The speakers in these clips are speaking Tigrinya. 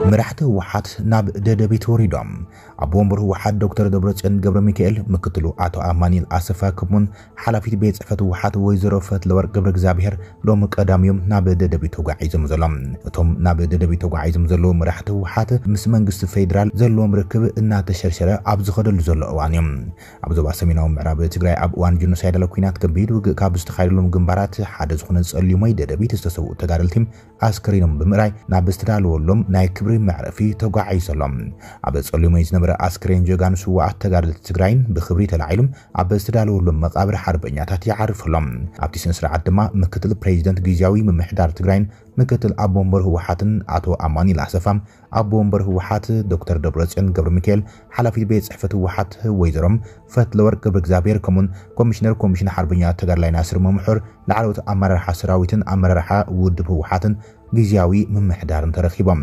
መራሕቲ ህወሓት ናብ ደደቢት ወሪዶም። ኣቦ ወንበር ህወሓት ዶክተር ደብረፅዮን ገብረሚካኤል፣ ምክትሉ ኣቶ ኣማኒኤል ኣሰፋ ክሙን ሓላፊት ቤት ፅሕፈት ህወሓት ወይዘሮ ፈትለወርቅ ገብረእግዚኣብሄር ሎሚ ቀዳም እዮም ናብ ደደቢት ተጓዒዞም ዘሎም። እቶም ናብ ደደቢት ተጓዒዞም ዘለዉ መራሕቲ ህወሓት ምስ መንግስቲ ፌዴራል ዘለዎም ርክብ እናተሸርሸረ ኣብ ዝኸደሉ ዘሎ እዋን እዮም ኣብ ዞባ ሰሜናዊ ምዕራብ ትግራይ ኣብ እዋን ጆኖሳይዳል ኲናት ከቢድ ውግእ ካብ ዝተኻየደሎም ግንባራት ሓደ ዝኾነ ፀሊሞይ ደደቢት ዝተሰውኡ ተጋደልቲ ኣስከሬኖም ብምእራይ ናብ ዝተዳለወሎም ናይ ክብሪ መዕረፊ ተጓዒዙ ኣሎ። ኣብ ጸልዮመይ ዝነበረ ኣስከሬን ጀጋኑ ስዉኣት ተጋደልቲ ትግራይ ብኽብሪ ተላዒሉ ኣብ ዝተዳለወሎም መቓብር ሓርበኛታት ይዓርፍ ኣሎ። ኣብቲ ስነስርዓት ድማ ምክትል ፕሬዚደንት ግዝያዊ ምምሕዳር ትግራይን ምክትል ኣቦ ወንበር ህወሓትን ኣቶ ኣማኑኤል ኣሰፋ ኣቦ ወንበር ህወሓት ዶክተር ደብረፅዮን ገብረሚካኤል፣ ሓላፊት ቤት ፅሕፈት ህወሓት ወይዘሮ ፈትለወርቅ ገብረእግዚኣብሄር ከምኡ'ውን ኮሚሽነር ኮሚሽን ሓርበኛ ተጋዳላይ ናስር መምሑር፣ ላዕለዎት ኣመራርሓ ሰራዊትን ኣመራርሓ ውድብ ህወሓትን ግዝያዊ ምምሕዳርን ተረኺቦም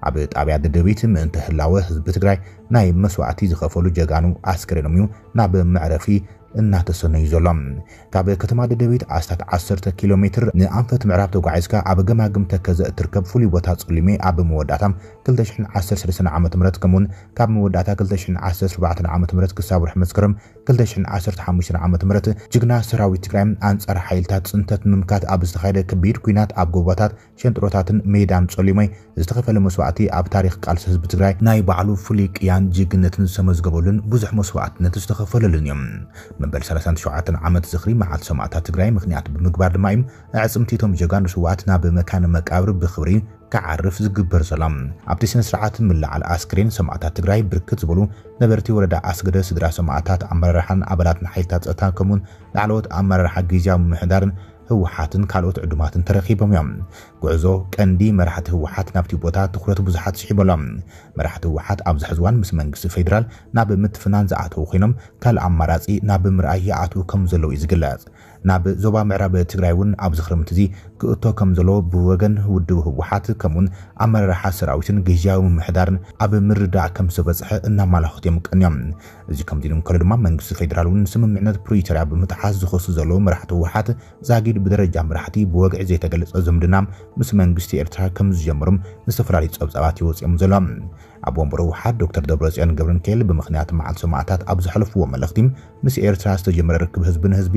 ኣብ ጣብያ ደደቢት ምእንተ ህላወ ህዝቢ ትግራይ ናይ መስዋእቲ ዝኸፈሉ ጀጋኑ ኣስከሬኖም እዩ ናብ መዕረፊ እናተሰነዩ ዘሎ። ካብ ከተማ ደደቢት ኣስታት ዓሰርተ ኪሎ ሜትር ንኣንፈት ምዕራብ ተጓዒዝካ ኣብ ገማግም ተከዘ እትርከብ ፍሉይ ቦታ ጸሊሜ ኣብ መወዳእታ ክልተ ሽሕን ዓሰርተ ሰለስተን ዓመተ ምህረት ከምኡ'ውን ካብ መወዳእታ ክልተ ሽሕን ዓሰርተ ኣርባዕተን ዓመተ ምህረት ክሳብ ወርሒ መስከረም ክልተ ሽሕን ዓሰርተ ሓሙሽተን ዓመተ ምህረት ጅግና ሰራዊት ትግራይ ኣንጻር ሓይልታት ጽንተት ንምምካት ኣብ ዝተኻየደ ከቢድ ኲናት ኣብ ጎቦታት ሸንጥሮታትን ሜዳን ጸሊሞይ ዝተኸፈለ መስዋእቲ ኣብ ታሪኽ ቃልሲ ህዝቢ ትግራይ ናይ ባዕሉ ፍሉይ ቅያን ጅግነትን ዝተመዝገበሉን ብዙሕ መስዋእትነት ዝተኸፈለሉን እዩ። መበል ሰላሳን ትሸውዓተን ዓመት ዝኽሪ መዓልቲ ሰማእታት ትግራይ ምኽንያት ብምግባር ድማ እዩ ኣዕፅምቲ እቶም ጀጋኑ ስውኣት ናብ መካነ መቃብር ብኽብሪ ክዓርፍ ዝግበር ዘሎ። ኣብቲ ስነ ስርዓት ምልዓል ኣስክሬን ሰማእታት ትግራይ ብርክት ዝበሉ ነበርቲ ወረዳ ኣስገደ፣ ስድራ ሰማእታት፣ ኣመራርሓን ኣባላትን ሓይልታት ፀጥታን ከምኡ'ውን ላዕለዎት ኣመራርሓ ጊዚያዊ ምምሕዳርን ህወሓትን ካልኦት ዕዱማትን ተረኺቦም እዮም። ጉዕዞ ቀንዲ መራሕቲ ህወሓት ናብቲ ቦታ ትኹረት ብዙሓት ስሒቡ ኣሎ። መራሕቲ ህወሓት ኣብዚ ሕዚ እዋን ምስ መንግስቲ ፌዴራል ናብ ምትፍናን ዝኣተው ኮይኖም ካልእ ኣማራፂ ናብ ምርኣይ ይኣትው ከምዘለው እዩ ዝግለፅ። ናብ ዞባ ምዕራብ ትግራይ እውን ኣብዚ ክረምቲ እዚ ክእቶ ከምዘለዎ ብወገን ውድብ ህወሓት ከምኡ እውን ኣመራርሓ ሰራዊትን ግዝያዊ ምምሕዳርን ኣብ ምርድዳእ ከምዝተበፅሐ እናማላኸቱ እዮም ቀንዮም። እዚ ከምዚ ኢሉ እንከሎ ድማ መንግስቲ ፌደራል እውን ንስምምዕነት ፕሪቶርያ ብምጥሓስ ዝኸሱ ዘለዉ መራሕቲ ህወሓት ዛጊድ ብደረጃ መራሕቲ ብወግዒ ዘይተገለፀ ዝምድና ምስ መንግስቲ ኤርትራ ከምዝጀመሩም ዝተፈላለዩ ፀብፃባት እዩ ወፂኦም ዘሎ። ኣቦ ወንበር ህወሓት ዶክተር ደብረፅዮን ገብረሚካኤል ብምኽንያት መዓልቲ ሰማእታት ኣብ ዘሕለፍዎ መልእኽቲ ምስ ኤርትራ ዝተጀመረ ርክብ ህዝቢ ንህዝቢ